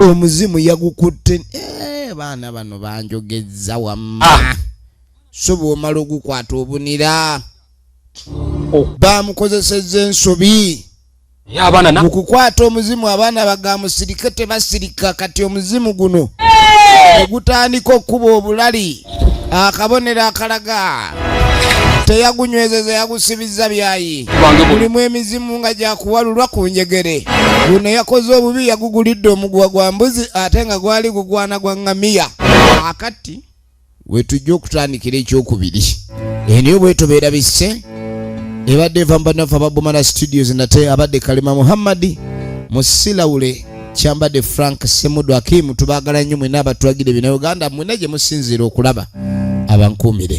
Speaker 1: omuzimu yagukutte eh, baana bano banjogezza wamma ah. so bwomala ogukwata obunira oh. bamukozeseza ensobi mu kukwata omuzimu abaana bagamusirike tebasirika kati omuzimu guno ogutandika eh. okukuba obulali akabonero akalaga teyagunywezeza yagusibizza byayi mulimu emizimu nga gyakuwalulwa ku njegere guno yakoze obubi yagugulidde omuguwa gwa mbuzi ate nga gwali gugwana gwa ngamiya akati wetujja okutandikira ekyokubiri eniyo bwetobeera bisse ebadde eva mu banaffe ababumana studios nate abadde kalema muhammadi musilawule kyambadde frank semudu akimu tubagala nnyo mwena abatwagire bina uganda mwena gye musinziira okulaba abankuumire